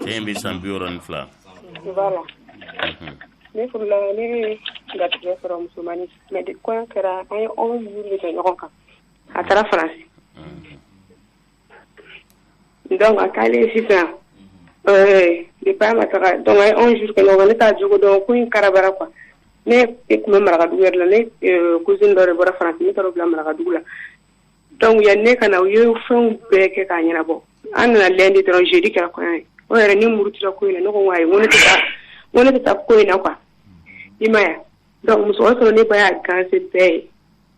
cɛ in bɛ san bi wɔɔrɔ ni fila voilà Mhm. ne furula ne bɛ garijɛgɛ sɔrɔ musomanin mais de kɔɲɔ kɛra an ye onze jours de kɛ ɲɔgɔn kan a taara faransi donc a taalen ye sisan ɛɛ depuis a ma taga donc an ye onze jours kɛ ɲɔgɔn kan ne t'a jogo dɔn ko in karabara quoi ne e tun bɛ marakadugu yɛrɛ la ne cousine dɔ de bɔra faransi ne taara o bila marakadugu la Donc yanni ne ka na u ye fɛnw bɛɛ kɛ k'a ɲɛnabɔ an nana lundi dɔrɔn jeudi kɛra kɔɲɔ ye o yɛrɛ ne murutira ko in na ne ko ayi ne tɛ taa ko in na quoi i m'a ye donc musokɔrɔba sɔrɔ ne ba y'a ganse bɛɛ ye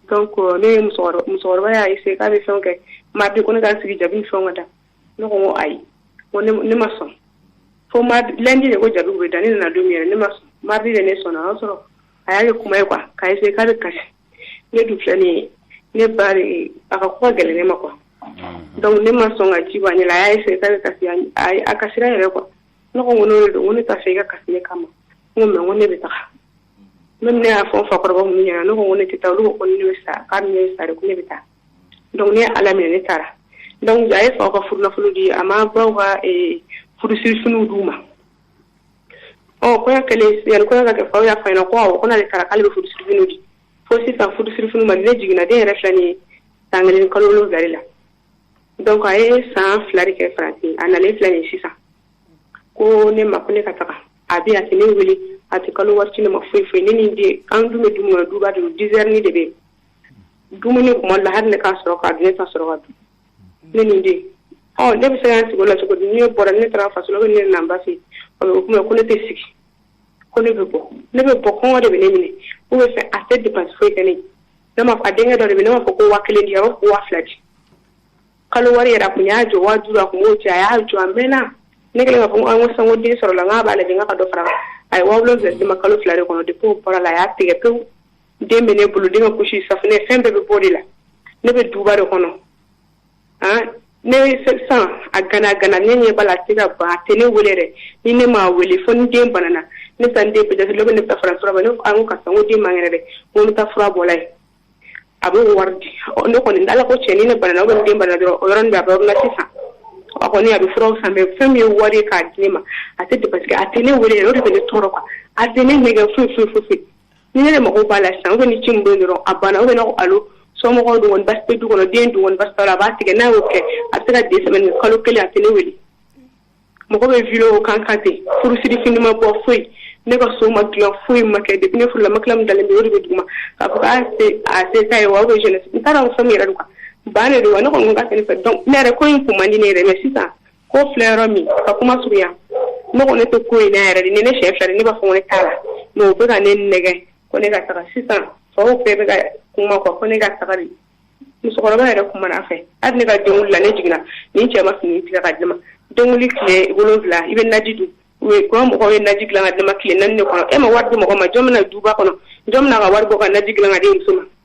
donc ne ye musokɔrɔba y'a essayé k'a bɛ fɛn kɛ mardi ko ne ka sigi jabi ni fɛnw ka da ne ko ayi ne ma sɔn fo lundi de ko jabiw bɛ da ne nana don min yɛrɛ ne ma sɔn mardi de ne sɔnna o y'a sɔrɔ a y'a kɛ kuma ye quoi k'a essayé k'a bɛ kasi ne dun filɛ ne ne ba a ka ko ka gɛlɛn ne ma quoi donc ne ma sɔn ka ji bɔ a ɲɛ la a y'a essayé ka kasi a kasira yɛrɛ quoi ne ko ko n'o don ko ne t'a fɛ i ka kasi ne kama ko mais ko ne bɛ taga ne ne y'a fɔ fakɔrɔba minnu ɲɛna ne ko ko ne tɛ taa olu ko ne bɛ sa k'a ne bɛ sa de ko ne bɛ taa donc ne ye ala minɛ ne taara donc a ye faw ka furunafolo di a ma baw ka furusirifiniw d'u ma Ɔ kɔɲɔ kɛlen yani kɔɲɔ ka kɛ faw y'a fɔ a ɲɛna ko awɔ ko n'ale taara k'ale bɛ furusirifiniw di fo sisan furusirifiniw ma di ne jiginna den yɛrɛ filɛ nin ye san kelen ni kalo wolonwula de la donc a ye san fila de kɛ faransi a nalen filɛ nin ye sisan ko ne ma ko ne ka taga a bɛ a tɛ ne wele a tɛ kalo wari ci ne ma foyi foyi ne ni n den an dun bɛ du min kɔnɔ duba de don dix heures ni de bɛ yen dumuni kuma dɔ la hali ne k'a sɔrɔ k'a dun ne t'a sɔrɔ ka dun ne ni den ɔ ne bɛ se ka sigi o la cogo di ne bɔra ne taara faso la ne nana n ba fɛ o bɛ kuma ko ne tɛ sigi ko ne bɛ bɔ ne bɛ bɔ kɔngɔ de bɛ ne minɛ ou bien fɛ a tɛ dépense foyi kɛ ne ne ma a denkɛ dɔ de bɛ ne b'a fɔ ko waa kelen di ko waa fila di kalo wari yɛrɛ kun y'a jɔ waa duuru a kun b'o ci a y'a jɔ a mɛnna ne kɛlen k'a fɔ n ko sanko den sɔrɔla n'a b'a lajɛ ka dɔ fara a ye waa wolonwula di ma kalo fila de kɔnɔ depuis o bɔra la a y'a tigɛ pewu den bɛ ne bolo den ka couche safunɛ fɛn bɛɛ bɛ bɔ de la ne bɛ duba de kɔnɔ ah, ne sisan a gana gana ne ɲɛ b'a la a tɛ ka ban a tɛ ne wele dɛ ni ne m'a wele fo ni den banana ne bɛ taa n den peut-être dɔ bɛ ne bɛ taa fara fura bɔ ne ko a n ko karisa n ko den man kɛnɛ dɛ n ko n bɛ taa fura bɔla ye a bɛ wari di ɔ ne kɔni ala ko cɛ ni ne banana ou bien ni den banana dɔrɔn o yɔrɔnin bɛɛ a bɛ ordonnance san a kɔni a bɛ furaw san mais fɛn min ye wari ye k'a di ne ma a tɛ parce que a tɛ ne wele yɛrɛ o de bɛ ne tɔɔrɔ quoi a tɛ ne nɛgɛ foyi foyi foyi foyi ni ne mako b'a la sisan ou bien ni ci min bɛ yen dɔrɔn a banna ou bien ne ko allô somɔgɔw dun kɔni basi tɛ du kɔnɔ den dun kɔni basi t'a la a b'a tigɛ n'a y'o kɛ a bɛ se ka deux semaines kɛ kalo kelen a tɛ ne wele mɔgɔ bɛ vidéo kan kan ten furusiri fini ma bɔ foyi ne ka so ma dilan foyi ma kɛ depuis ne furula matelas min dalen bɛ o de bɛ duguma k'a fɔ k'a se a se t'a ye wa ou bien jeunesse n t'a dɔn fɛn min yɛrɛ don quoi ban de don wa ne kɔni ko k'a tɛ ne fɛ donc ne yɛrɛ ko in kun man di ne yɛrɛ mais sisan ko filɛ yɔrɔ min ka kuma surunya ne ko ne tɛ ko in na yɛrɛ de ni ne siɲɛ fila de ne b'a fɔ ko ne t'a la mais o bɛ ka ne nɛgɛn ko ne ka taga sisan faw bɛɛ bɛ ka kuma quoi ko ne ka taga de musokɔrɔba yɛrɛ kumana a fɛ hali ne ka denwuli la ne jiginna nin cɛ ma fini tigɛ ka di n ma denwuli tile wolonwula i bɛ naji dun quoi mɔgɔw ye naji dilan ka di n ma tile naani de kɔnɔ e ma wari di mɔgɔ ma jɔn bɛna duba kɔnɔ jɔn bɛna ka wari bɔ ka naji dilan ka di muso ma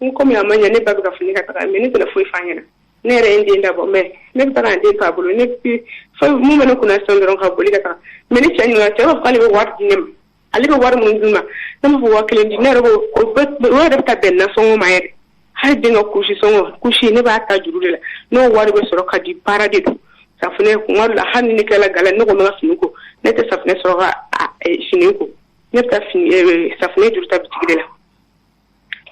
N kɔmi a ma ɲɛ ne ba bɛ k'a fɔ ne ka taga mais ne tɛna foyi f'a ɲɛna ne yɛrɛ ye n den dabɔ mais ne bɛ taa den to a bolo ne min bɛ ne kun sisan dɔrɔn ka boli ka taa mais ni cɛ ɲininka cɛ b'a fɔ k'ale bɛ wari di ne ma ale bɛ wari minnu di n ma ne ma fɔ wa kelen di ne yɛrɛ o yɛrɛ bɛ ka bɛn nasɔngɔ ma yɛrɛ hali den ka kusi sɔngɔ kusi ne b'a ta juru de la n'o wari bɛ sɔrɔ ka di baara de don safunɛ kun la hali ne kɛra ka ne ko n ka fini ko ne tɛ safunɛ sɔrɔ ka fini ko ne bɛ fini safunɛ juru ta bitigi de la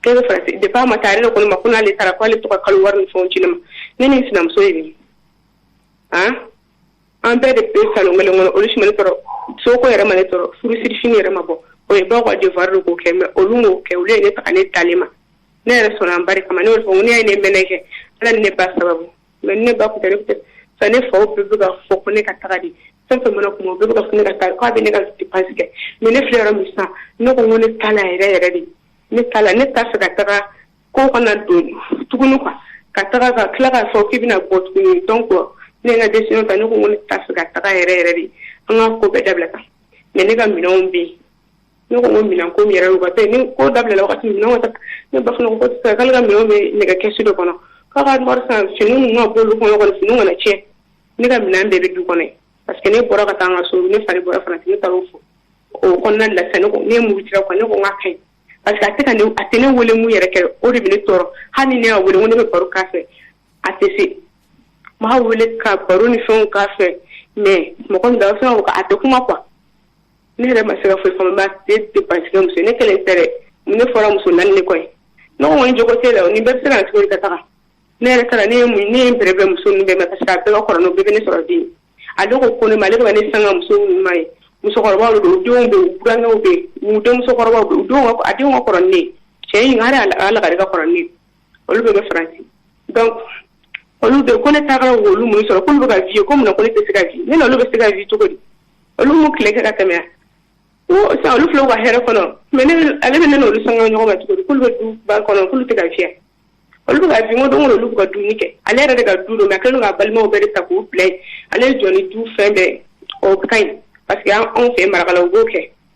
k'e bɛ faransi depuis a ma taa ale de ko ne ma ko n'ale taara ko ale bɛ to ka kalo wari ni fɛnw ci ne ma ne ni n sinamuso ninnu an an bɛɛ de bɛ salon kelen kɔnɔ olu si ma ne tɔɔrɔ soko yɛrɛ ma ne tɔɔrɔ furusiri fini yɛrɛ ma bɔ o ye baw ka devoir de k'o kɛ mais olu m'o kɛ olu ye ne ta ka ne d'ale ma ne yɛrɛ sɔnna n ba de kama ne y'o de fɔ n ko n'i y'a ye ne ye minnu kɛ ala ni ne ba sababu mais ne ba tun fa ne faw bɛɛ bɛ ka fɔ ko ne ka taga de fɛn o fɛn mana kuma bɛɛ bɛ ka fɔ ne ka taa k'a bɛ ne ka dépense kɛ mais ne filɛ yɔrɔ min sisan ne ko ko ne t'a la yɛrɛ yɛrɛ de ne t'a la ne t'a fɛ ka taga ko kana don tuguni quoi ka taga ka tila k'a fɔ k'i bɛna bɔ tuguni donc ne ka décision ta ne ko ko ne t'a fɛ ka taga yɛrɛ yɛrɛ de an ka ko bɛɛ dabila quoi mais ne ka minɛnw bɛ yen ne ko minɛn ko yɛrɛ u ka tɛ ni ko dabilala wagati min ka ne ba fana ko sisan k'ale ka minɛn bɛ nɛgɛ kɛsu dɔ kɔnɔ k'a ka wari san fini ninnu ka bolo kɔnɔ kɔni fini kana tiɲɛ ne ka minɛn bɛɛ bɛ du kɔnɔ parce que ne bɔra ka taa an ka so ne fari bɔra fana ne taara o fɔ o kɔnɔna lasa ne ne mugu jira kɔnɔ ne ko n ka kɛ parce que a tɛ ka ne a tɛ ne wele min yɛrɛ kɛ o de bɛ ne tɔɔrɔ hali ne y'a wele ko ne bɛ baro k'a fɛ a tɛ se n b'a wele ka baro ni fɛnw k'a fɛ mais mɔgɔ min da a bɛ fɛn ko a tɛ kuma quoi ne yɛrɛ ma se ka foyi faamu a tɛ dépense kɛ muso ne kelen tɛ dɛ ne fɔra muso naani de kɔ yen ne ko ŋɔni jogo t'e la o ni bɛɛ bɛ se ka cogo ka taga ne yɛrɛ taara ne ye mun ne ye n bɛrɛbɛn muso ninnu bɛɛ ma parce que a bɛɛ ka kɔrɔ n'o bɛɛ bɛ ne sɔrɔ den ale ko ko ne ma ale bɛ ka ne sanga muso minnu ma ye musokɔrɔbaw de don u denw bɛ yen u burankɛw bɛ yen u denmuso kɔrɔbaw bɛ yen u denw ka a denw ka kɔrɔ ni ne ye cɛ in hali a lagare ka kɔrɔ ni ne ye olu bɛɛ bɛ faransi donc olu bɛ ko ne taara olu mun sɔrɔ k'olu bɛ ka vie ko mun na ko ne tɛ se ka vie ne n'olu bɛ se ka vie cogo di olu m'u tile kɛ ka tɛmɛ ko sisan olu filɛ u ka hɛrɛ kɔnɔ mais ale bɛ ne n'olu sanga ɲɔgɔn ma cogo di k'olu bɛ du ba kɔnɔ k'olu tɛ ka vie olu bɛ ka fini don olu bɛ ka dumuni kɛ ale yɛrɛ de ka du don mais a kɛlen ka balimaw bɛɛ de ta k'u bila yen ale jɔ ni du fɛn bɛɛ o ka ɲi parce que anw fɛ marakala u b'o kɛ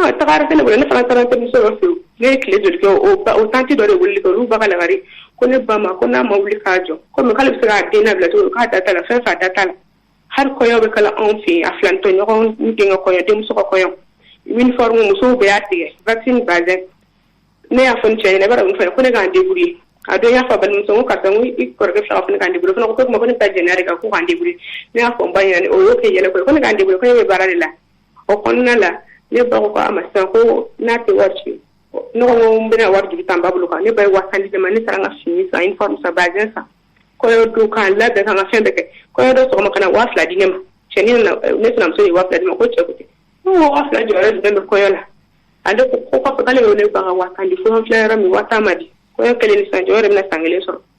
Ɔ tagara kɛnɛ ne fana taara denmuso dɔ fɛ ne ye tile joli kɛ o tanti dɔ de wuli kɛ olu ba ka lagare ko ne ba ko n'a ma wuli k'a jɔ kɔmi bɛ se k'a den labila to k'a da t'a la fɛn fa da t'a la hali kɔɲɔ bɛ kala anw fɛ a filantɔ ɲɔgɔn denkɛ kɔɲɔ denmuso kɔɲɔ uniforme musow bɛɛ y'a tigɛ wax ni bazin ne y'a fɔ cɛ ne bɛ min fɔ ko ne k'an débrouiller ye a dɔn y'a fɔ balimamuso ka i kɔrɔkɛ fila fana ka débrouiller fana ko ko ne taa jɛnɛ de kan ko k'an débrouiller ne y'a fɔ ba ɲɛna o y'o kɛ yɛlɛ ko ne k'an débrouiller ko ne bɛ baara de la o kɔnɔna la ne ba ko a ma sisan ko n'a tɛ wari ci ne ko n bɛna wari jigi ta n ba bolo kan ne ba ye waa tan di ne ma ne taara n ka fini san uniforme san bazin san kɔɲɔ don k'an labɛn k'an ka fɛn bɛɛ kɛ kɔɲɔ don sɔgɔma ka na waa fila di ne ma cɛni nana ne sinamuso ye waa fila di ne ma ko cɛ ko ten ne ko waa fila jɔyɔrɔ jumɛn bɛ kɔɲɔ la ale ko ko kɔfɛ k'ale y'o ne ba ka waa tan di fo n filɛ yɔrɔ min waa tan ma di kɔɲɔ kɛlen ni sisan jɔyɔrɔ de bɛna san kelen sɔrɔ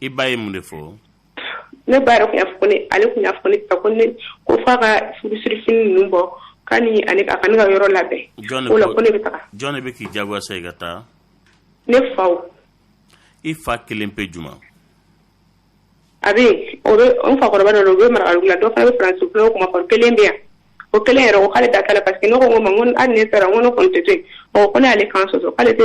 i ba ye mun de fɔ ne ba yɛrɛ tun y'a fɔ ne ale tun y'a fɔ ne ta ko ne ko f'a ka furusirifini ninnu bɔ k'a ni ale a ka ne ka yɔrɔ labɛn jɔn o la ko ne bɛ taga jɔn de bɛ k'i jagoya sa i ka taa ne faw i fa kelen pe juma a bɛ yen o bɛ n fakɔrɔba dɔ don o bɛ marakadugu la dɔ fana bɛ faransi fulaw kuma fɔ kelen bɛ yan o kelen yɛrɛ ko k'ale da t'a la parce que ne ko n ko ma n ko hali ni ne taara n ko ne kɔni tɛ to yen ɔ ko ne y'ale kan sɔsɔ k'ale tɛ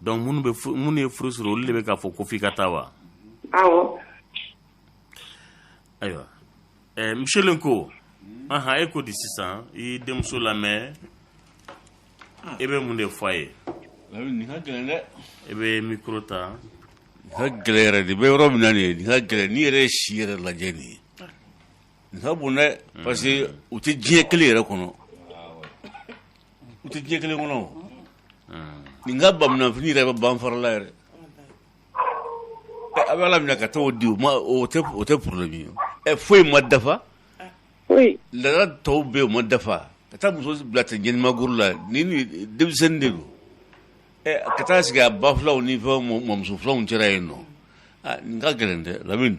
Donc minnu bɛ furu minnu ye furu siri olu de bɛ k'a fɔ ko f'i ka taa wa, awɔ, ayiwa, ɛɛ monsieur Lenko, anhan, e ko di sisan i y'i denmuso lamɛn i bɛ mun de fɔ a ye, nin ka gɛlɛn dɛ, i bɛ micro ta, nin ka gɛlɛn yɛrɛ de, i bɛ yɔrɔ min na nin ye, nin ka gɛlɛn, n'i yɛrɛ ye si yɛrɛ lajɛ nin ye Nin ka bon dɛ parce que u tɛ diɲɛ kelen yɛrɛ kɔnɔ u tɛ diɲɛ kelen kɔnɔ nin ka bamunanfini yɛrɛ bɛ ban farala yɛrɛ a bɛ ala minɛ ka taa di u ma o tɛ problème ye foyi ma dafa la tɔw bɛ yen u ma dafa ka taa muso bila ten jamakulu la ni denmisɛnnin de don ka taa sigi a ba filaw ni fɛn mamuso filaw cɛla yen nɔ nin ka gɛlɛn dɛ Lamini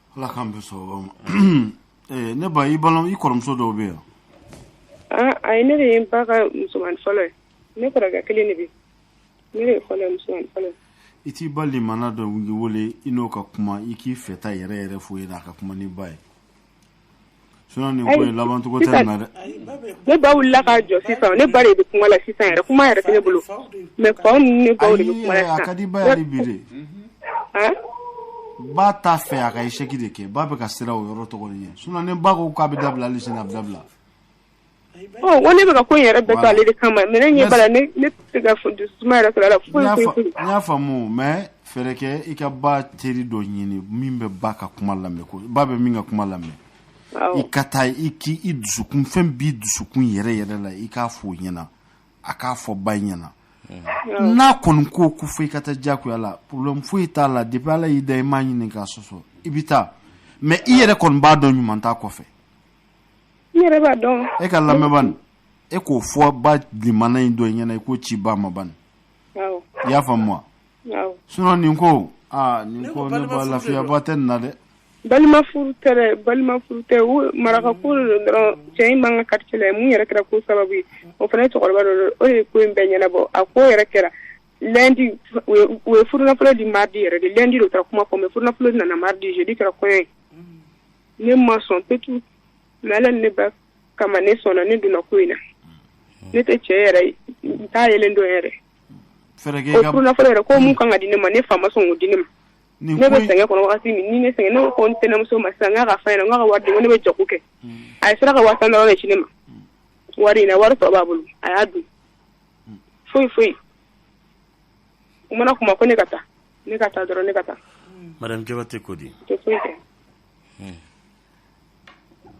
ala k'an bɛ sɔrɔ ma eh, ne ba i balo i kɔrɔmuso dɔw bɛ yan ah, ayi ne de ye n ba ka musoman fɔlɔ ye ne kɔrɔkɛ kelen de bɛ ne de ye fɔlɔ musoman fɔlɔ ye i t'i balima na dɔ wele i n'o ka kuma i k'i fɛta yɛrɛ yɛrɛ fɔ a ye a ka kuma n'i ba ye Sinon nin ko in laban cogo tɛ nin na dɛ. Ne ba wulila k'a jɔ sisan ne ba de bɛ kuma la sisan yɛrɛ kuma yɛrɛ tɛ ne bolo mais faw ni ne baw de bɛ kuma la sisan. Ayi a ka di ba ye hali bi de. Hein? Ba t'a fɛ a ka échec de kɛ ba bɛ ka siran o yɔrɔ tɔgɔ de ɲɛ sinon ni ba ko k'a bɛ dabila hali sini a bɛ dabila. ne bɛka ko yɛrɛ bɛɛ ale de kama mais ne ɲɛ b'a la ne tɛ se ka dusuma yɛrɛ sɔrɔ a la n y'a faamu mais fɛɛrɛ kɛ i ka ba teri dɔ ɲini min bɛ ba ka kuma lamɛn ko ba bɛ min ka kuma lamɛn i ka taa i dusukun fɛn b'i dusukun yɛrɛ yɛrɛ la i k'a fɔ o ɲɛna a k'a fɔ ba ɲɛna n'a kɔni ko ko fo i ka taa jagoya la problème foyi t'a la depuis Ala y'i da i m'a ɲini k'a sɔsɔ i bɛ taa mais i yɛrɛ kɔni b'a dɔn ɲuman t'a kɔfɛ N yɛrɛ b'a dɔn e ka lamɛn e k'o fɔ ba limana in dɔ ɲɛna i k'o ci ba ma ban i y'a faamu wa sinon nin ko aa nin ko ne ba lafiyaba tɛ nin na dɛ balimafuru tɛ balimafuru tɛ marakako dɔrɔn cɛ in b'an ka quartier la mun yɛrɛ kɛra ko sababu ye o fana ye cɛkɔrɔba dɔ o ye ko in bɛɛ ɲɛnabɔ a ko yɛrɛ kɛra lundi u ye furunafolo di mardi yɛrɛ de lundi de u taara kuma fɔ mais furunafolo nana mardi jeudi kɛra kɔɲɔ ye ne ma sɔn petu mais ala ne ba kama ne sɔnna ne donna ko in na ne tɛ cɛ yɛrɛ ye n t'a yelen dɔn yɛrɛ o furunafolo yɛrɛ ko mun kan ka di ne ma ne fa ma sɔn k'o di ne ma ne bɛ sɛgɛn kɔnɔ wagati min ni ne sɛgɛn ne ko ko n tɛnɛmuso ma sisan n k'a k'a fɔ a ɲɛna n k'a ka wari di ko ne bɛ jago kɛ a yɛrɛ sera ka waa tan dɔrɔn de ci ne ma wari in na wari tɔ b'a bolo a y'a dun foyi foyi u mana kuma ko ne ka taa Ne ka taa dɔrɔn ne ka taa madame Jabate ko di tɛ foyi kɛ hun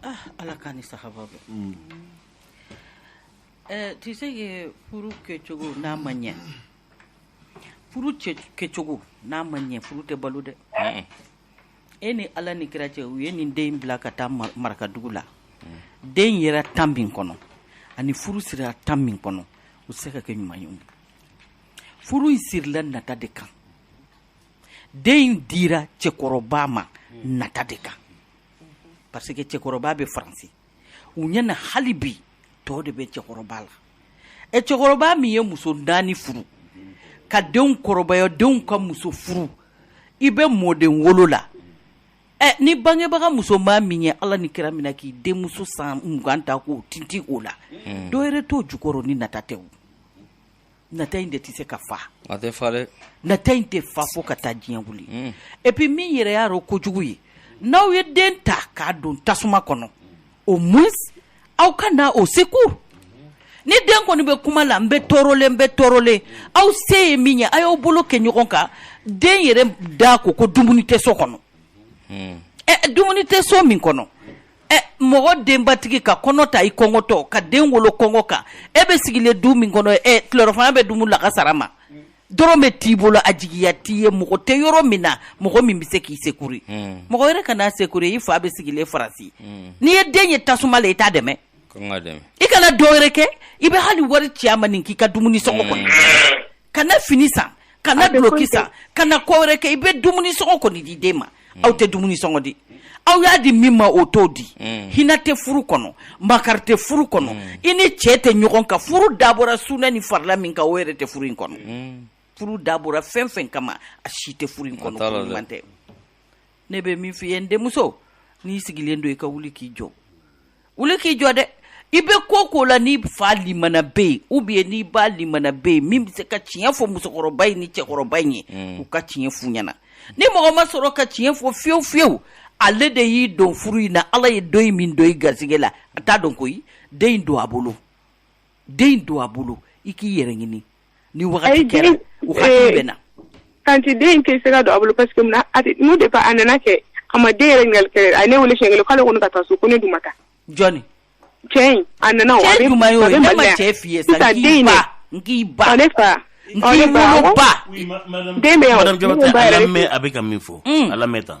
ah Ala k'a ni sahaba bɛn un ɛɛ tu sais que furu kɛcogo n'a ma ɲɛ furu kɛcogo n'a ma ɲɛ furu tɛ balo dɛ un e ni Ala ni kira cɛ u ye nin den in bila ka taa marakadugu la den yera temps min kɔnɔ ani furu sirila temps min kɔnɔ u tɛ se ka kɛ ɲuman ye o furu in sirila nata de kan den in dira cɛkɔrɔba ma nata de kan parce que cɛkɔrɔba bɛ faransi u ɲɛna hali bi tɔɔ de bɛ cɛkɔrɔba la ɛ cɛkɔrɔba min ye muso naani furu ka denw kɔrɔbaya denw ka muso furu i bɛ mɔden wolo la ɛ ni bangebaga musoman min ye ala ni kira minɛ k'i denmuso san mugan ta k'o tintin o la hmm. dɔ yɛrɛ t'o jukɔrɔ ni nata tɛ o nata in de tɛ se ka fa a tɛ fa dɛ nata in tɛ fa fo ka taa diɲɛ wuli mm. et puis min yɛrɛ y'a rɔ kojugu ye n'aw ye den ta k'a don tasuma kɔnɔ au moins aw ka na au secours ni den kɔni bɛ kuma la n bɛ tɔɔrɔlen n bɛ tɔɔrɔlen aw se ye min ye a y'aw bolo kɛ ɲɔgɔn kan den yɛrɛ da ko ko dumuni tɛ so kɔnɔ mm. ɛ eh, dumuni tɛ so min kɔnɔ ɛ mɔgɔ denbatigi ka kɔnɔ ta i kɔngɔtɔ ka den wolo kɔngɔ kan e bɛ sigilen du min kɔnɔ ɛ tilelafana bɛ dumu lagansara ma dɔrɔmɛ t'i bolo a jigiya t'i ye mɔgɔ tɛ yɔrɔ min na mɔgɔ min bɛ se k'i sekuri hmm. mɔgɔ wɛrɛ kana sekuri i fa bɛ sigilen Faransi hmm. n'i ye den ye tasuma la i t'a dɛmɛ i kana dɔ wɛrɛ kɛ i bɛ hali wari ci a ma nin k'i ka dumuni sɔngɔ kɔnɔ hmm. kana fini san kana duloki san kana ko wɛrɛ kɛ i bɛ dumuni sɔngɔ kɔni di den ma aw tɛ dumuni sɔngɔ di aw y'a di min ma o t'o di mm. hinɛ tɛ furu kɔnɔ makari tɛ furu kɔnɔ mm. i ni cɛ tɛ ɲɔgɔn kan furu dabɔra sunɛ ni farila min kan o yɛrɛ tɛ furu in kɔnɔ mm. furu dabɔra fɛn fɛn kama a si tɛ furu in kɔnɔ ɲuman tɛ ne bɛ min f'i ye n denmuso n'i sigilen don i ka wuli k'i jɔ wuli k'i jɔ dɛ i bɛ ko ko la n'i fa limana bɛ yen ou bien n'i ba limana bɛ yen min bɛ se ka tiɲɛ fɔ musokɔrɔba in ni cɛkɔrɔba in ye mm. u ka tiɲɛ f'u ɲɛna ni mɔgɔ ma sɔrɔ ka tiɲɛ fɔ fiyewu fiyewu ale de y'i don furu in na ala ye dɔ in min don i garisɛgɛ la a t'a dɔn koyi den in don a bolo den in don a bolo i k'i yɛrɛ ɲini ni wagati kɛra u hakili bɛ na tanti den in tɛ se ka don a bolo parce que mun na a tɛ- n'u de a nana kɛ a ma den yɛrɛ ɲininkali kɛ a ye ne wele siɲɛ kelen k'ale kɔni ka taa so ko ne dun ma taa jɔni cɛ in a nana o a cɛ bɛ- juma y'o a ye bɛ ne ma Mali la yan. cɛ f'i ye sa sisan n den k'i in ba dɛ n k'i ba ɔ ne fa n ɔ k'i ne fa wolo awɔ. ba den bɛ yan o, madame ne ko Jabate ba a yɛrɛ de lamɛn a bɛ ka min fɔ a lamɛn tan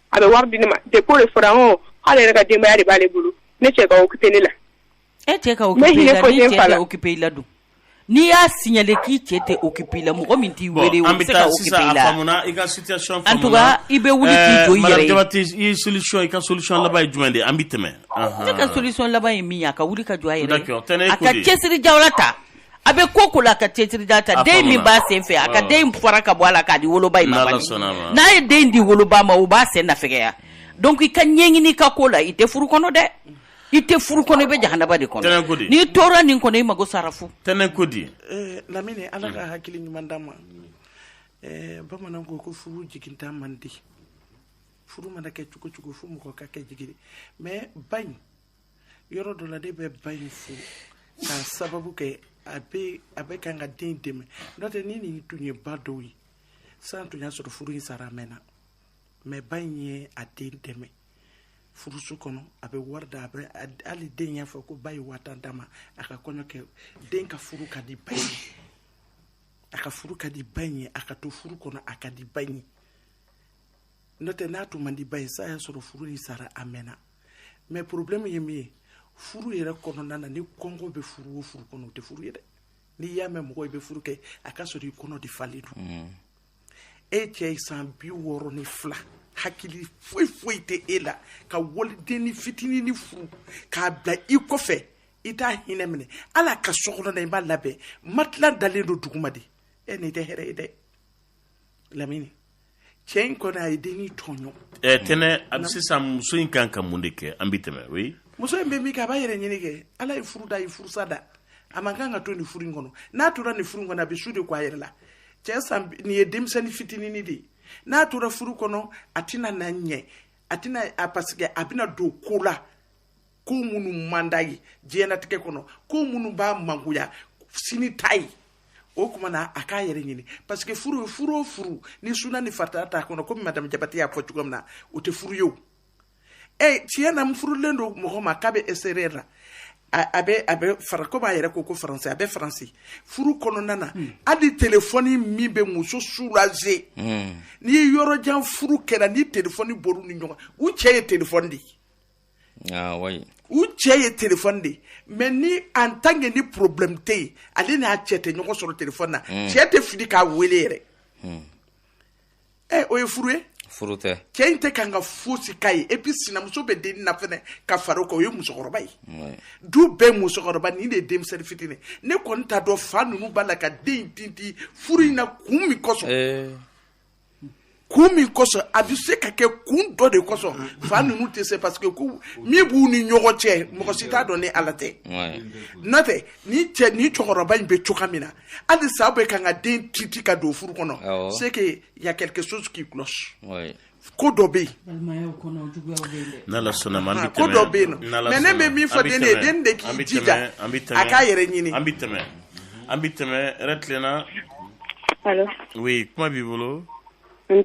a bɛ wari di ne ma de ko de fɔra hɔn k'ale yɛrɛ ka denbaya de b'ale bolo ne cɛ ka occuper ne la e cɛ ka occuper i la ni cɛ tɛ occuper i la dun n'i y'a signaler k'i cɛ tɛ occuper i la mɔgɔ min t'i wele o bɛ se ka occuper i la i ka situation en tout cas i bɛ wuli k'i jɔ i yɛrɛ ye madame Jabate i solution i ka solution laban ye jumɛn de ye an bɛ tɛmɛ ne ka solution laban ye min ye a ka wuli ka jɔ a yɛrɛ ye a ka cɛsiri jala ta. a bɛ ko ko la a ka cɛsiri jala ta den min b'a sen fɛ a ka den fara ka bɔ a la k'a di woloba in ma n'a ye den di woloba ma o b'a sen na fɛgɛya donc i ka ɲɛɲini i ka ko la i tɛ furu kɔnɔ dɛ i tɛ furu kɔnɔ i bɛ jahanaba de kɔnɔ n'i tora nin kɔnɔ i mago sara fu tɛnɛn ko di eh, lamini ala ka hakili ɲuman d'a ma eh, bamanan ko ko furu jigintan man di furu mana kɛ cogo cogo fo mɔgɔ ka kɛ jigin mais ba in yɔrɔ dɔ la ne bɛ ba in fo k'a sababu kɛ a bɛ a bɛ kan ka den dɛmɛ n'o tɛ ni nin tun ye ba dɔw ye sa tun y'a sɔrɔ furu in sara a mɛnna mais ba in ye a den dɛmɛ furuso kɔnɔ a bɛ wari da a bɛ hali den y'a fɔ ko ba ye waa tan d'a ma a ka kɔɲɔ kɛ den ka furu ka di ba ye a ka furu ka di ba in ye a ka to furu kɔnɔ a ka di ba in ye n'o tɛ n'a tun man di ba ye sa y'a sɔrɔ furu in sara a mɛnna mais porobilɛmu ye min ye furu yɛrɛ kɔnɔna na ni kɔngɔ bɛ furu o furu kɔnɔ o tɛ furu ye dɛ n'i y'a mɛn mɔgɔ i bɛ furu kɛ a k'a sɔrɔ i kɔnɔ de falen don mm. e cɛ ye san bi wɔɔrɔ ni fila hakili foyi foyi tɛ e la ka walidennin fitinin nin furu k'a bila i kɔfɛ i t'a hinɛ minɛ hal'a ka sokɔnɔna i m'a labɛn matila dalen don duguma de e nin tɛ hɛrɛ ye dɛ lamini cɛ in kɔni a ye denni tɔɲɔ ɛɛ tɛnɛ a bɛ sisan muso in kan ka mun de kɛ an bɛ tɛmɛ oui muso in bɛ min kɛ a b'a yɛrɛ ɲini kɛ ala ye furu da a ye furusa da a man kan ka to nin furu in kɔnɔ n'a tora nin furu in kɔnɔ a bɛ su de ko a yɛrɛ la cɛ san nin ye denmisɛnnin fitinini de ye n'a tora furu kɔnɔ a tɛna na ɲɛ a tɛna a parce que a bɛna don ko la ko minnu man d'a ye diɲɛnatigɛ kɔnɔ ko minnu b'a mangoya sini ta ye o kuma na a k'a yɛrɛ ɲini parce que furu ye furu o furu ni suna ni farida t'a kɔnɔ komi madame jabatɛ y'a fɔ cogo min na o tɛ furu ye o ɛ tiɲɛ na n furulen don mɔgɔ ma k'a bɛ extérieur la a bɛ a bɛ fara ko b'a yɛrɛ ko ko faransi a bɛ faransi furu kɔnɔna na hmm. hali telefɔni min bɛ muso soulager hmm. n'i ye yɔrɔ jan furu kɛra ni telefɔni bɔr'u ni ɲɔgɔn u cɛ ye telefɔni de ye u cɛ ye telefɔni de ye mais ni en tant que ni porobilɛmu tɛ yen ale n'a cɛ tɛ ɲɔgɔn sɔrɔ telefɔni na hmm. cɛ tɛ fili k'a weele yɛrɛ hmm. ɛ o ye furu ye furu tɛ cɛ in tɛ kan ka fosi k'a ye et puis sinamuso bɛ denni na fɛnɛ ka fara o kan o ye musokɔrɔba ye du bɛɛ musokɔrɔba nin de ye denmisɛnnin fitinin ne kɔni t'a dɔn fa ninnu b'a la ka den in tintin furu in na kun min kosɔn kun min kosɔn a bɛ se ka kɛ kun dɔ de kosɔn fa ninnu tɛ se parce que ko min b'u ni ɲɔgɔn cɛ mɔgɔ si t'a dɔn ni ala tɛ n'o tɛ ni cɛ ni cɛkɔrɔba in bɛ cogoya min na halisa u bɛ kan ka den tintin k'a don furu kɔnɔ c'est que y a quelque chose qui cloche ko dɔ bɛ yen n'ala sɔnna ma an bɛ ko dɔ bɛ yen non mais ne bɛ min fɔ den ye den de k'i jija a k'a yɛrɛ ɲini an bɛ tɛmɛ An bɛ tɛmɛ hɛrɛ tilenna allô oui kuma b'i bolo an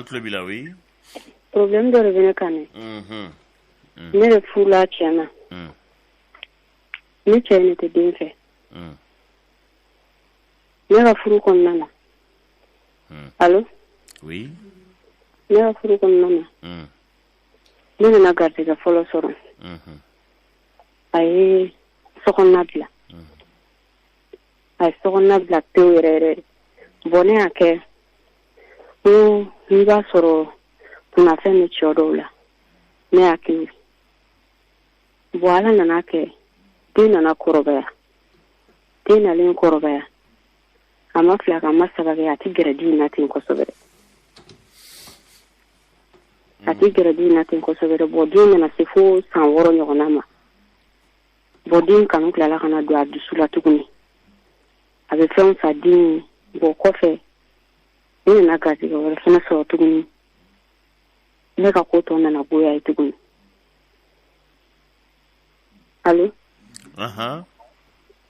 tulo b'i la oui porobilɛmu dɔ de bɛ ne kan ne bɛ furu la tiɲɛ na ne cɛ ne tɛ den fɛ ne ka furu kɔnɔna na allô oui ne ka furu kɔnɔna na ne nana garijɛ fɔlɔ sɔrɔ a ye sokɔnɔna bila a ye sokɔnɔna bila pewu yɛrɛ yɛrɛ bɔn ne y'a kɛ ko n'i b'a sɔrɔ kunfɛn ni cɛ dɔw la ne y'a kɛ bɔn ala nana kɛ den nana kɔrɔbaya den nalen kɔrɔbaya a ma fila kɛ a ma saba kɛ a tɛ gɛrɛ de n na ten kosɛbɛ a tɛ gɛrɛ de n na ten kosɛbɛ bɔn den nana se fo san wɔɔrɔ ɲɔgɔnna ma bɔn den kanu tilala ka na don a dusu la tuguni a bɛ fɛnw san den bɔn kɔfɛ ne nana garijɛgɛ wɛrɛ fana sɔrɔ tuguni ne ka ko tɔ nana goya a ye tuguni allo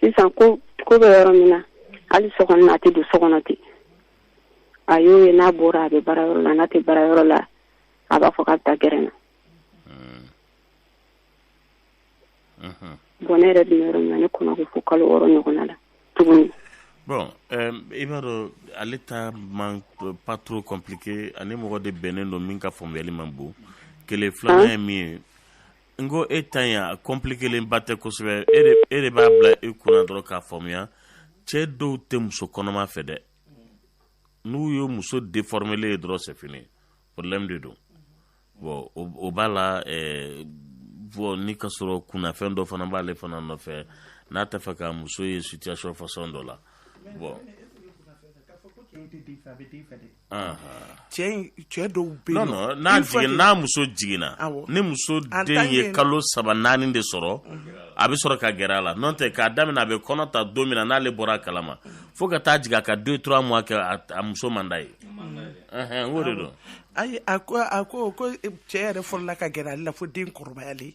sisan ko ko bɛ yɔrɔ min na hali so kɔnɔ na a tɛ don so kɔnɔ ten a y'o ye n'a bɔra a bɛ baara yɔrɔ la n'a tɛ baara yɔrɔ la a b'a fɔ k'a bɛ taa gɛrɛn na bɔn ne yɛrɛ bɛ yɔrɔ min na ne kɔnɔ ko fo kalo wɔɔrɔ ɲɔgɔnna la tuguni bon euh, i b'a dɔn ale ta man pas trop compliqué a ni mɔgɔ de bɛnnen don min ka faamuyali man bon kelen filanan ye min ye N ko e ta in a compliquélen ba tɛ kosɛbɛ e de b'a bila i kunna dɔrɔn k'a faamuya cɛ dɔw tɛ muso kɔnɔma fɛ dɛ n'u ye muso déformélen ye dɔrɔn c'est fini problème de don bɔn o b'a la bɔn ni ka sɔrɔ kunnafɛn dɔ fana b'ale fana nɔfɛ n'a tɛ fɛ ka muso ye situation façon dɔ la bɔn cɛ dɔw bɛ yen nɔ n'a muso jiginna ni muso den ye kalo saba naani de sɔrɔ a bɛ sɔrɔ ka gɛrɛ a la n'o tɛ k'a daminɛ a bɛ kɔnɔ ta don min na n'ale bɔra a kalama fo ka taa jigin a ka deux trois mois kɛ a muso man d'a ye o de don ayi a ko a ko ko cɛ yɛrɛ fɔlɔla ka gɛrɛ ale la fo den kɔrɔbayalen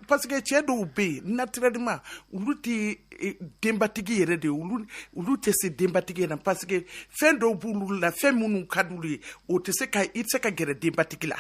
parce que cɛ dɔw bɛ yen naturellement olu tɛ e, denbatigi yɛrɛ de olu tɛ se denbatigi yɛrɛ parce que fɛn dɔw b'olu la fɛn minnu ka d'u ye o tɛ se ka i tɛ se ka gɛrɛ denbatigi la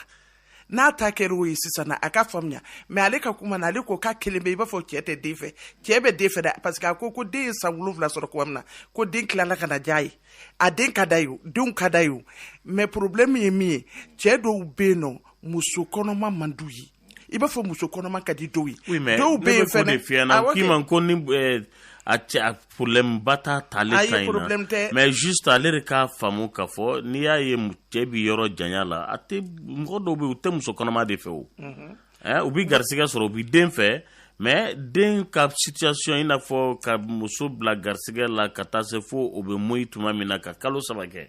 n'a ta kɛra o ye sisan a k'a faamuya mais ale ka kuma na ale ko k'a kɛlen bɛ i b'a fɔ cɛ tɛ den fɛ cɛ bɛ den fɛ dɛ parce que a ko ko den ye san wolonwula sɔrɔ kuma min na ko den tilala ka na diya a ye a den ka d'a ye o denw ka d'a ye o mais problème ye min ye cɛ dɔw bɛ yen nɔ muso kɔnɔma man d'u ye i b'a fɔ muso kɔnɔma ka di dɔw ye oui, mais dɔw bɛ yen fɛnɛ f'i ɲɛ na k'i man ko ni eh, a cɛ a problème ba t'a t'ale ta in na mais juste ale de k'a faamu k'a fɔ n'i y'a ye cɛ bi yɔrɔ janya la a tɛ mɔgɔ dɔw bɛ yen u tɛ muso kɔnɔma de fɛ o mhm. eh, u bi garisigɛ sɔrɔ u bi den fɛ mais den ka situation i n'a fɔ ka muso bila garisigɛ la ka taa se fo o bɛ moyi tuma min na ka kalo saba kɛ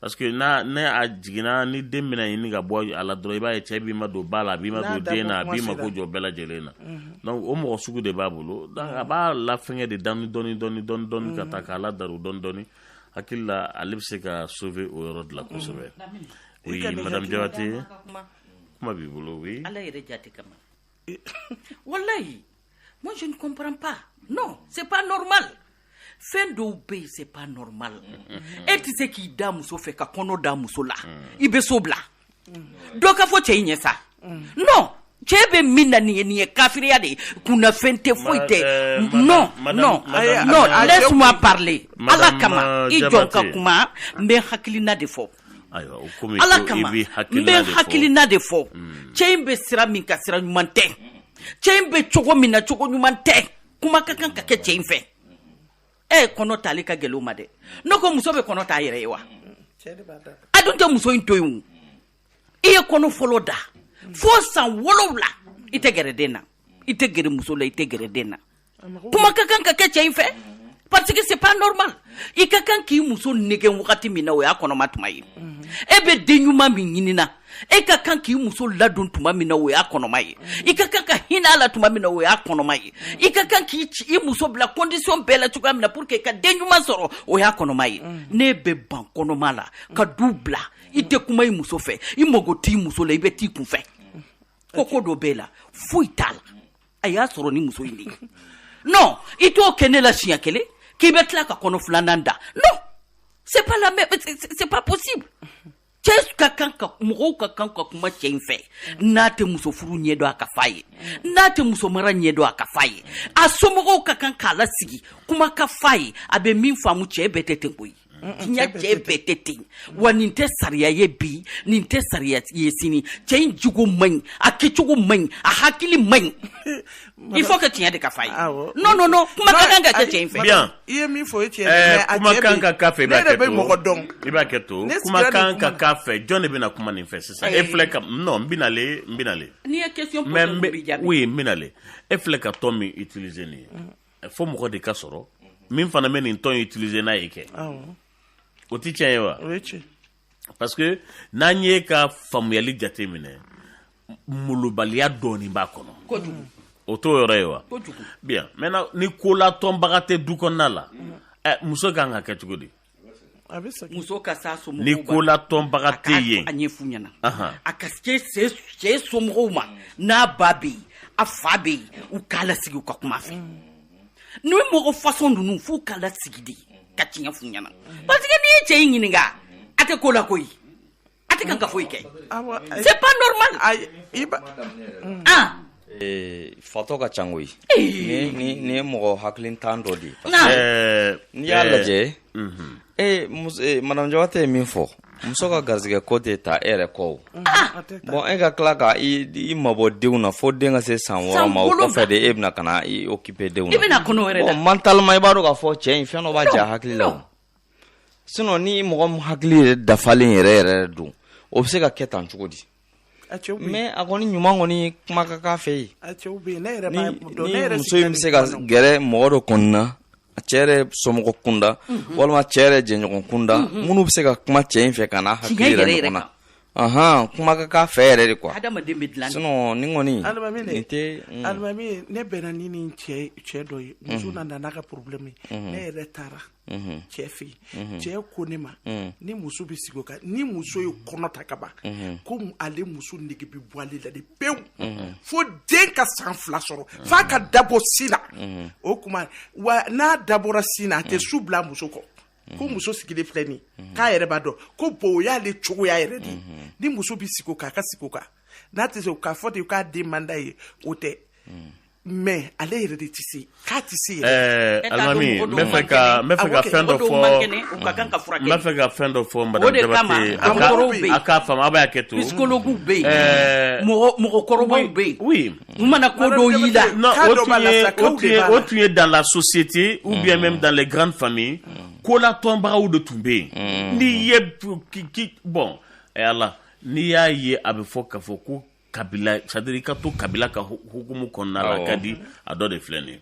parce que n'a n'a jiginna ni den bɛna ɲini ka bɔ a la dɔrɔn i b'a ye cɛ b'i madon ba la a b'i madon den na a b'i mako jɔ bɛɛ lajɛlen na donc o mɔgɔ sugu de b'a bolo donc a b'a lafɛngɛ de dɔɔni dɔɔni dɔɔni dɔɔni dɔɔni ka taa k'a ladaru dɔɔni dɔɔni hakili la ale bɛ se ka sauver o yɔrɔ de la kosɛbɛ oui madame Jabate kuma b'i bolo oui ala yɛrɛ jate kama walayi Moi, je ne comprends pas. Non, c'est pas normal. fɛn dɔw bɛ yen c'est pas normal mm-hmm. e tɛ se k'i da muso fɛ ka kɔnɔ da muso la mm. i bɛ so bila mm. dɔ k'a fɔ cɛ in ɲɛ sa mm. non cɛ bɛ min na nin ye nin ye kafiriya de ye kunnafɛn tɛ foyi tɛ eh, non non non laisse-moi parler ala kama i jɔ n ka kuma n bɛ hakilina de fɔ ala kama n bɛ hakilina de fɔ mm. cɛ in bɛ sira min kan sira ɲuman tɛ cɛ in bɛ cogo min na cogo ɲuman tɛ kuma ka kan ka kɛ cɛ in fɛ e kɔnɔ tali ka gɛlɛn ma dɛ ne ko muso bɛ kɔnɔ t'a yɛrɛ ye wa a dun tɛ muso in to yen i ye kɔnɔ fɔlɔ da fo san wolowula i tɛ gɛrɛ den na i tɛ gɛrɛ muso la i tɛ gɛrɛ den na kuma ka kan ka kɛ cɛ in fɛ parce que c'est pas normal i ka kan k'i muso nɛgɛn wagati min na o y'a kɔnɔma tuma ye e bɛ den ɲuman min ɲinina e ka kan k'i muso ladon tuma min na o y'a kɔnɔma ye i ka kan ka hinɛ a la tuma min na o y'a kɔnɔma ye i ka kan k'i i muso bila condition bɛɛ la cogoya min na pour que ka den ɲuman sɔrɔ o y'a kɔnɔma ye n'e bɛ ban kɔnɔma la ka du bila i tɛ kuma i muso fɛ i mago t'i muso la i bɛ t'i kun fɛ ko ko dɔ b'e la foyi t'a la a y'a sɔrɔ ni muso in de ye non i t'o kɛ ne la siɲɛ kelen k'i bɛ tila ka kɔnɔ filanan da non c'est pas la même c'est pas possible cɛ ka kan ka mɔgɔw ka kan ka kuma cɛ in fɛ n'a tɛ muso furu ɲɛ dɔn a ka f'a ye n'a tɛ muso mara ɲɛ dɔn a ka f'a ye a somɔgɔw ka kan k'a lasigi kuma ka f'a ye a bɛ min faamu cɛ bɛɛ tɛ ten koyi diɲɛ cɛ bɛɛ tɛ ten wa nin tɛ sariya ye bi nin tɛ sariya ye sini cɛ in jogo man ɲi a kɛcogo man ɲi a hakili man ɲi il faut que tiɲɛ de ka f'a ye non non non kuma ka kan ka kɛ cɛ in fɛ bien i ye min fɔ o ye tiɲɛ ye kuma kan ka k'a fɛ i b'a kɛ to mɔgɔ dɔn i b'a kɛ to kuma kan ka k'a fɛ jɔn de bɛna kuma nin fɛ sisan e filɛ ka non n bɛ na le n bɛ na le n'i ye question poser n b'i jaabi oui n bɛ na le e filɛ ka ton min utiliser nin ye fo mɔgɔ de ka sɔrɔ min fana bɛ nin ton utiliser n'a ye kɛ o tɛ tiɲɛ ye wa o ye tiɲɛ parce que n'an y'e ka faamuyali jate minɛ molobaliya dɔɔni b'a kɔnɔ kojugu o t'o yɔrɔ ye wa kojugu bien maintenant ni kolatɔnbaga tɛ du kɔnɔna la muso kan ka kɛ cogo di muso ka s'a so ni kolatɔnbaga tɛ yen a ɲɛf'u ɲɛna a ka se cɛ somɔgɔw ma n'a ba bɛ yen a fa bɛ yen u k'a lasigi u ka kum'a fɛ nin mɔgɔ façon ninnu f'u ka lasigi de ka tiɲɛ f'u ɲɛna parce que n'i ye cɛ in ɲininka a tɛ ko la koyi A tɛ ka foyi kɛ c'est pas fatɔ ka ca koyi nin ye mɔgɔ hakilintan dɔ de ye ɛɛ n'i y'a lajɛ ee madame Jabate ye min fɔ muso ka garisɛgɛ ko tɛ ta e yɛrɛ kɔ bon e ka tila k' i mabɔ denw na fo den ka se san wɔɔrɔ ma de e bɛna ka na i occuper denw na mentalement i b'a dɔn k'a fɔ cɛ in fɛn dɔ b'a j'a hakili la sinon ni mɔgɔ min hakili yɛrɛ dafalen yɛrɛ yɛrɛ don o bɛ se ka kɛ tan cogo di mais a kɔni ɲuman kɔni kuma ka k'a fɛ yen ni muso in bɛ se ka gɛrɛ mɔgɔ dɔ kɔni na cɛ yɛrɛ somɔgɔ kunda mhm. walima cɛ yɛrɛ jɛɲɔgɔn kunda mhm. minnu bɛ se ka kuma cɛ in fɛ ka n'a hakili yɛrɛ ɲɔgɔn na Aɔn kuma ka k'a fɛ yɛrɛ de quoi adamaden bɛ dilan nin kɔni tɛ alimami ne bɛnna ni nin cɛ dɔ ye muso nana n'a ka problème ye ne yɛrɛ taara cɛ fɛ yen cɛ ko ne ma ni muso bɛ sigi o kan ni muso ye kɔnɔ ta kaban ko ale muso nege bɛ bɔ ale la de pewu fo den ka san fila sɔrɔ f'a ka dabɔ sin na o tuma wa n'a dabɔra sin na a tɛ su bila muso kɔ ko mhm. muso sigilen filɛ nin mhm. k'a yɛrɛ b'a dɔn ko bon o y'ale cogoya yɛrɛ de mhm. ni muso bɛ sigi o kan a ka sigi o kan n'a tɛ se k'a fɔ de k'a den man d'a ye o tɛ mais ale yɛrɛ de tɛ se k'a tɛ se yɛrɛ. alimami n bɛ fɛ ka n bɛ fɛ ka fɛn dɔ fɔ n bɛ fɛ ka fɛn dɔ fɔ madame Jabate a k'a faamu a b'a kɛ to. psychologues bɛ yen mɔgɔkɔrɔbaw bɛ yen. u mana ko dɔw y'i la o tun ye dans la société ou bien mm. même dans les grandes familles mm. kolatɔnbagaw de tun bɛ yen n'i ye bon eh, ala n'i y'a ye a bɛ fɔ k'a fɔ ko kabila c'est à dire i ka to kabila ka hukumu kɔnɔna la ka di a dɔ de filɛ nin ye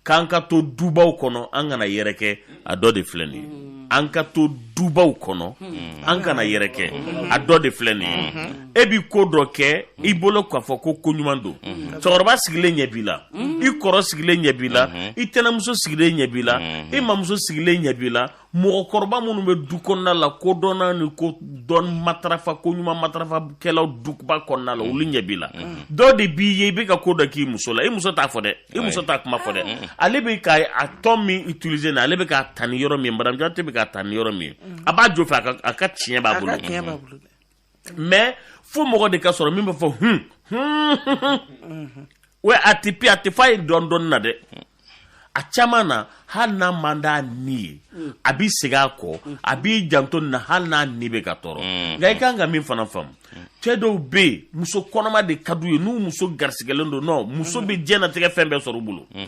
k'an ka to dubaw kɔnɔ an kana yɛrɛkɛ a dɔ de filɛ nin ye mm. an ka to dubaw kɔnɔ mm. an kana yɛrɛkɛ mm. a dɔ de filɛ nin ye mm-hmm. e bi ko dɔ kɛ i bolo k'a fɔ ko ko ɲuman don mm-hmm. cɛkɔrɔba sigilen ɲɛ b'i la mm-hmm. i kɔrɔ sigilen ɲɛ b'i la i tɛnɛmuso sigilen ɲɛ b'i la i mamuso sigilen ɲɛ b'i la mɔgɔkɔrɔba minnu bɛ du kɔnɔna la ko dɔnna ni ko dɔn matarafa ko ɲuman matarafakɛlaw duba kɔnɔna la olu ɲɛ b'i la dɔ de b'i ye i bɛ ka ko dɔ k'i muso la i muso t'a fɔ dɛ i muso t'a kuma fɔ dɛ ale bɛ ka a tɔn min utiliser na ale bɛ k'a ta ni yɔrɔ min madame Jabate bɛ k'a ta ni yɔrɔ min a b'a jo fɛ a ka tiɲɛ b'a bolo mais fo mɔgɔ de ka sɔrɔ min b'a fɔ hun o a tɛ pe a tɛ f'a ye dɔn dɔn na dɛ a caman na hali n'a man d'a ni ye a b'i segin a kɔ a b'i janto na hali n'a ni bɛ ka tɔɔrɔ mm. nka i kan ka min fana faamu cɛ dɔw bɛ yen muso kɔnɔma de ka d'u ye n'u muso garisigɛlen don non muso bɛ diɲɛnatigɛ fɛn bɛɛ sɔrɔ u bolo mm.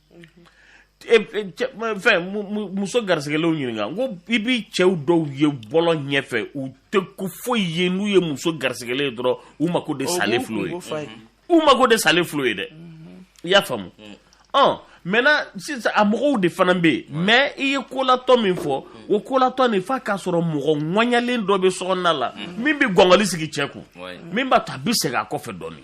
E- e- cɛ- ma- fɛn mu- mu- muso garisigɛlenw ɲininka n ko i b'i cɛw dɔw ye bɔlɔ ɲɛfɛ u tɛ ko foyi ye n'u ye muso garisigɛlen ye dɔrɔn u mako de salen filɛ ye u mako de salen filɛ ye dɛ i y'a faamu ɔn maintenant sisan a mɔgɔw de fana bɛ yen mais i ye kolatɔ min fɔ o kolatɔ nin f'a k'a sɔrɔ mɔgɔ ŋɔɲalen dɔ bɛ sokɔnɔna la min bɛ gɔngɔli sigi cɛ kun Ouais. min b'a to a bɛ segin a kɔfɛ dɔɔnin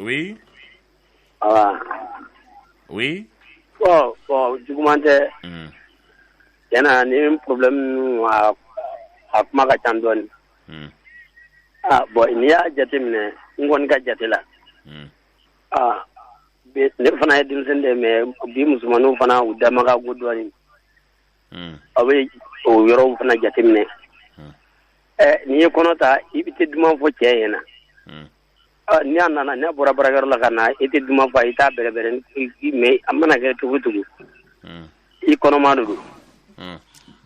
oui oui juguman tɛ tiɲɛ na ni problème a kuma ka ca dɔɔnin bon n'i y'a jateminɛ n kɔni ka jate la aa ne fana ye denmisɛn de mais bi musomanw fana u dama ka go dɔɔnin aw bɛ o yɔrɔw fana jateminɛ n'i ye kɔnɔ ta i bɛ tɛ duman fɔ cɛ ye n'a ni a nana n'a bɔra baarakɛyɔrɔ la ka na i tɛ duman fɔ i t'a bɛrɛbɛrɛ mais a mana kɛ cogo cogo i kɔnɔma don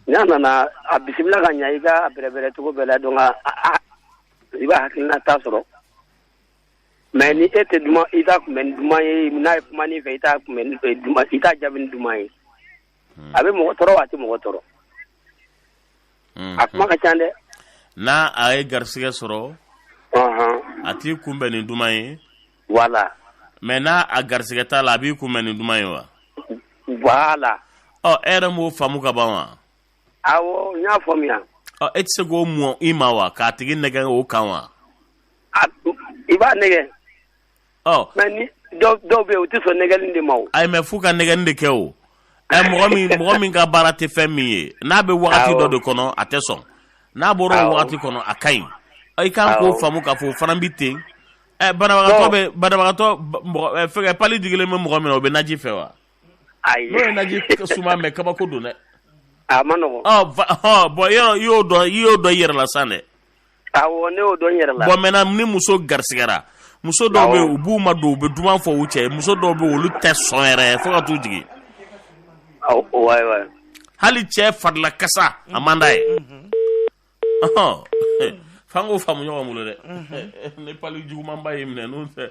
n'a nana a bisimila ka ɲɛ i k'a bɛrɛbɛrɛ cogo bɛɛ la donc i b'a hakilina ta sɔrɔ mais ni e tɛ duman i t'a kunbɛn ni duman ye n'a ye kuma i fɛ i t'a kunbɛn i t'a jaabi ni duman ye a bɛ mɔgɔ tɔɔrɔ a tɛ mɔgɔ tɔɔrɔ a kuma ka ca dɛ n'a a ye garisigɛ sɔrɔ a t'i kunbɛn ni duman ye voilà mais n'a a garisigɛ t'a la a b'i kunbɛn ni duman ye wa voilà ɔ e yɛrɛ m'o faamu ka ban wa awɔ n y'a faamuya ɔ e tɛ se k'o mɔ i ma wa k'a tigi nɛgɛ o kan wa i b'a nɛgɛ ɔ mais ni dɔw dɔw bɛ yen u tɛ sɔn nɛgɛli de ma o ayi mais f'u ka nɛgɛni de kɛ o ɛ mɔgɔ min mɔgɔ min ka baara tɛ fɛn min ye n'a bɛ wagati Awɔ. dɔ de kɔnɔ a tɛ sɔn n'a bɔra o Awɔ. wagati kɔnɔ a ka ɲi Ɔ, i kan k'o Awɔ. faamu k'a fɔ o fana bɛ ten ɛ banabagatɔ Ɔ. bɛ banabagatɔ ba- mɔgɔ ɛ, fɛngɛ palu digilen bɛ mɔgɔ min na o bɛ naji fɛ wa ayi n'o ye naji suma mɛn kabako don dɛ a ma nɔgɔn ɔ va- ɔ, bon yɔrɔ i y'o dɔn i y'o dɔn i yɛrɛ la san dɛ Bon maintenant ni muso garisigɛra muso dɔw bɛ u b'u madon u bɛ duman fɔ u cɛ muso dɔw bɛ olu tɛ sɔn yɛrɛ fo ka du jigin hali cɛ farilakasa a man d'a ye f'an k'o faamu ɲɔgɔn bolo dɛ ni palu jugumanba y'i minɛ fɛ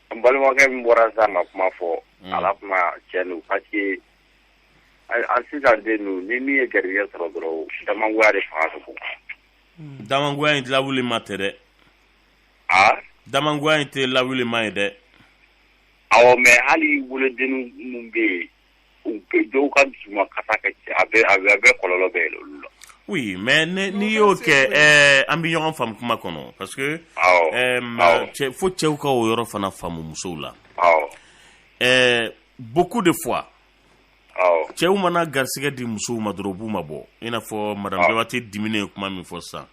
N balimakɛ min bɔra sa ka kuma fɔ a la kuma cɛ parce que a sisan denw ni min ye garisigɛ sɔrɔ dɔrɔn damangoya de fanga ka bon damangoya in lawuli ma tɛ dɛ a damangoya in tɛ lawuli ma ye dɛ awɔ mais hali wolodennin minnu bɛ yen Dɔw ka dusu ka kɛ a bɛ a bɛ kɔlɔlɔ bɛ olu la oui mais n'i y'o kɛ an bɛ ɲɔgɔn faamu kuma kɔnɔ parce que fo cɛw ka o yɔrɔ fana faamu musow la ɛɛ beaucoup de fois cɛw mana garisigɛ di musow ma dɔrɔn u b'u ma bɔ i n'a fɔ madame Jabate diminen ye kuma min fɔ sisan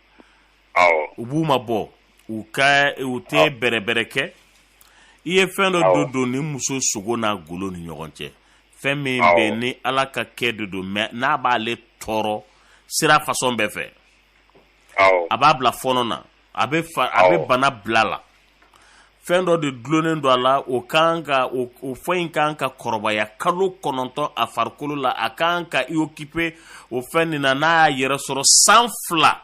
u b'u ma bɔ u ka u tɛ bɛrɛ bɛrɛ kɛ i ye fɛn dɔ don don ni muso sogo n'a golo ni ɲɔgɔn cɛ fɛn min bɛ ni ala ka kɛ de don mais n'a b'ale tɔɔrɔ sira façon bɛɛ fɛ a b'a bila fɔɔnɔ na a bɛ a bɛ bana bila a la fɛn dɔ de dulonnen don a la o kan ka o fɛn in kan ka kɔrɔbaya kalo kɔnɔntɔn a farikolo la a kan ka i occuper o fɛn nin na n'a y'a yɛrɛ sɔrɔ san fila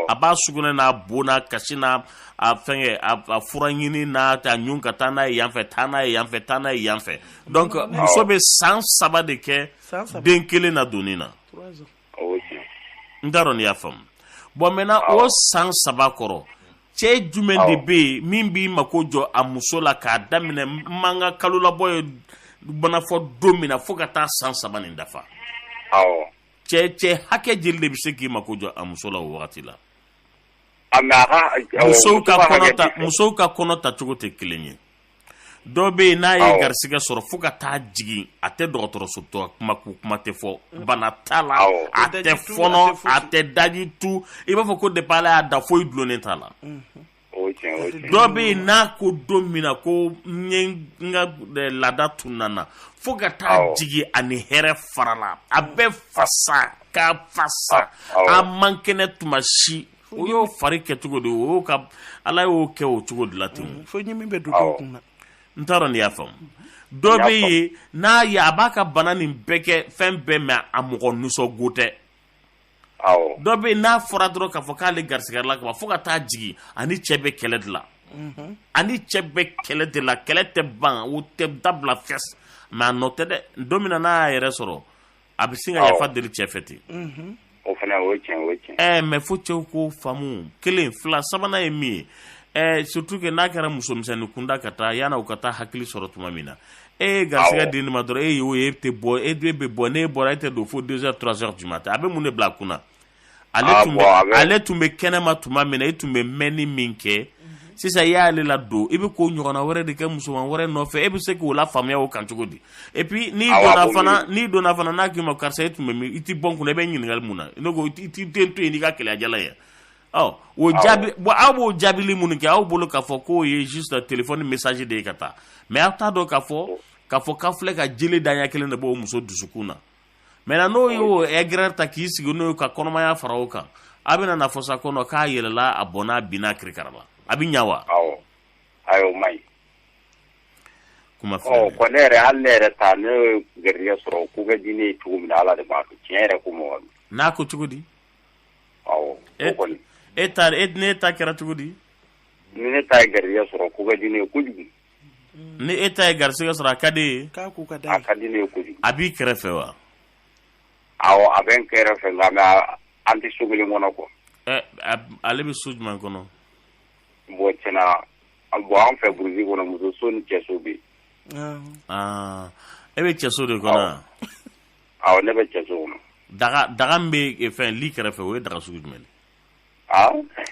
a b'a sugunɛ n'a bo n'a kasi n'a a fɛngɛ a fura ɲini n'a ta ɲun ka taa n'a ye yanfɛ taa n'a ye yanfɛ taa n'a ye yanfɛ donc muso bɛ san saba de kɛ den kelen na donni na n t'a dɔn n'i y'a faamu bon maintenant o san saba kɔrɔ cɛ jumɛn de bɛ yen min b'i mako jɔ a muso la k'a daminɛ n ma n ka kalolabɔ ye mana fɔ don min na fo ka taa san saba nin dafa cɛ cɛ hakɛ jeli de bɛ se k'i mako jɔ a muso la o wagati la musow ka kɔnɔ ta musow ka kɔnɔ ta cogo tɛ kelen ye dɔ bɛ yen n'a ye garisigɛ sɔrɔ fo ka taa jigin a tɛ dɔgɔtɔrɔso taa kuma ko kuma tɛ fɔ bana t'a la a tɛ fɔnɔ a tɛ daji tu i b'a fɔ ko depuis ala y'a da foyi dulonnen t'a la. dɔ bɛ yen n'a ko don min na ko n ye n ka laada tununna fo ka taa jigin a ni hɛrɛ farala a bɛ fasa k'a fasa a man kɛnɛ tuma si o y'o fari kɛ cogo de o y'o ka ala y'o kɛ o cogo de la ten mm, fiɲɛ min bɛ don dɔw kun na n t'a dɔn n'i y'a faamu dɔ bɛ yen n'a ye a b'a ka bana nin bɛɛ kɛ fɛn bɛɛ mais a mɔgɔ nisɔngo tɛ dɔ bɛ yen n'a fɔra dɔrɔn k'a fɔ k'ale garisigɛ la ka fo ka taa jigin a ni cɛ bɛ kɛlɛ de la mhm. a ni cɛ bɛ kɛlɛ de la kɛlɛ tɛ ban o tɛ dabila fɛs mais a nɔ tɛ dɛ don min na n'a y'a yɛrɛ sɔrɔ a bɛ sin ka yafa deli cɛ fɛ ten mhm. o fana o ye tiɲɛ o ye tiɲɛ ɛɛ mais fo cɛw k'o faamu kelen fila sabanan ye min ye ɛɛ surtout que n'a kɛra musomisɛnnin kunda ka taa yanni u ka taa hakili sɔrɔ tuma min na e ye garisigɛ di nin ma dɔrɔn e y'o ye e tɛ bɔ e bɛ bɔ n'e bɔra e tɛ don fo deux heures trois heures du matin a bɛ mun de bila a kun na ale tun bɛ kɛnɛma tuma min na e tun bɛ mɛnni min kɛ sisan i y'ale ladon i bɛ ko ɲɔgɔnna wɛrɛ de kɛ musoman wɛrɛ nɔfɛ e bɛ se k'o lafaamuya o kan cogo di et puis n'i donna fana n'a k'i ma karisa e tun bɛ min i tɛ bɔ n kun na i bɛ ɲininkali kɛ mun na ne ko i tɛ n to yen n'i ka keleya jalan ye ɔ o jaabi bon aw b'o jaabili minnu kɛ aw bolo k'a fɔ k'o ye juste téléphone message de ye ka taa mais aw t'a dɔn k'a fɔ k'a fɔ k'aw filɛ ka jeli daɲɛ kelen de b'o muso dusukun na maintenant n'o y'o aigreur ta k'i sigi n'o ye ka kɔnɔmaya fara o kan aw bɛna n'a fɔ sa ko non k'a yɛlɛla a bɔnna a binna kirikara la a bɛ ɲa wa awɔ ayi o man ɲi kuma ɔ filɛ bon ne yɛrɛ hali ne yɛrɛ ta ne ye garijɛgɛ sɔrɔ o ko ka di ne ye cogo min na ala de b'a dɔn tiɲɛ yɛrɛ ko mɔgɔ don n'a ko cogo di e ta e ne e ta kɛra cogo di ni ne ta ye garijɛgɛ sɔrɔ ko ka di ne ye kojugu ni e ta ye garijɛgɛ sɔrɔ a ka d'i ye a ka di ne ye kojugu a b'i kɛrɛfɛ wa a a bɛ n kɛrɛfɛ nka mais an tɛ so kelen kɔnɔ quoi ale bɛ so jumɛn kɔnɔ bon tiɲɛna bon an fɛ burusi kɔnɔ muso so ni cɛso bɛ yen e bɛ cɛso de kɔnɔ ne bɛ cɛ so kɔnɔ daga daga min bɛ fɛn lit kɛrɛfɛ o ye daga sugu jumɛn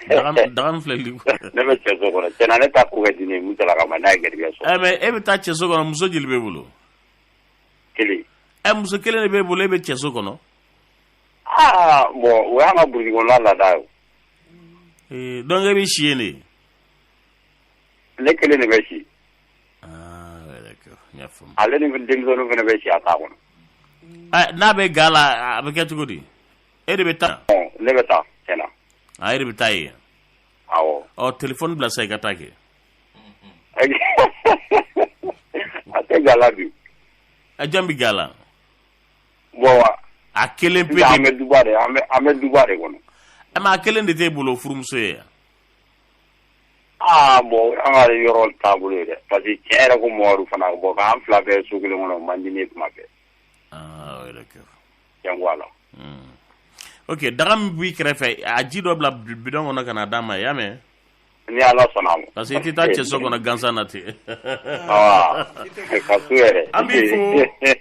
daga min filɛ lit ne bɛ cɛ so kɔnɔ tiɲɛna ne ta ko ka di ne ye daga ma n'a ye garijɛgɛ sɔrɔ mais e bɛ taa cɛ so kɔnɔ muso joli b'e bolo kelen ɛ muso kelen de b'e bolo e bɛ cɛ so kɔnɔ aa bon o y'an ka burusi kɔnɔna laada ye donc e bɛ si yen de ne kelen de bɛ si ale ni denmisɛnninw fana bɛ si a ta kɔnɔ N'a bɛ ga la a bɛ kɛ cogo di e de bɛ taa ne bɛ taa tiɲɛna e de bɛ taa yen ɔ téléphone bila sa i ka taa kɛ a tɛ ga la bi a jɔn bɛ ga la bon a kelen pe an bɛ duba de kɔnɔ mais a kelen de t'e bolo furumuso ye yan Aa bon an ka yɔrɔ taabolo ye dɛ parce que tiɲɛ yɛrɛ ko mɔgɔw fana bon ka an fila bɛ so kelen kɔnɔ o man di ne ye tuma bɛɛ. Aa d'accord. Tiɲɛ ko Ala. Unhun. Ok daga min b'i kɛrɛfɛ, a ji dɔ bila bidon kɔnɔ ka n'a d'a ma, i y'a mɛn? Ni Ala sɔnna a ma. Parce que i tɛ taa cɛso kɔnɔ gansan na ten. Aa ka to yɛrɛ. An b'i fo,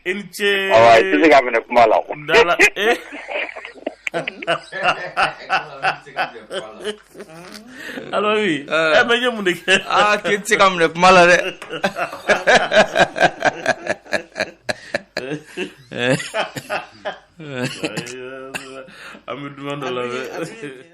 i ni ce. Awa i tɛ se k'a minɛ kuma la. Dala ee. Ala ye mun de kɛ aa k'i tɛ se k'a minɛ kuma la dɛ an bɛ dɔ la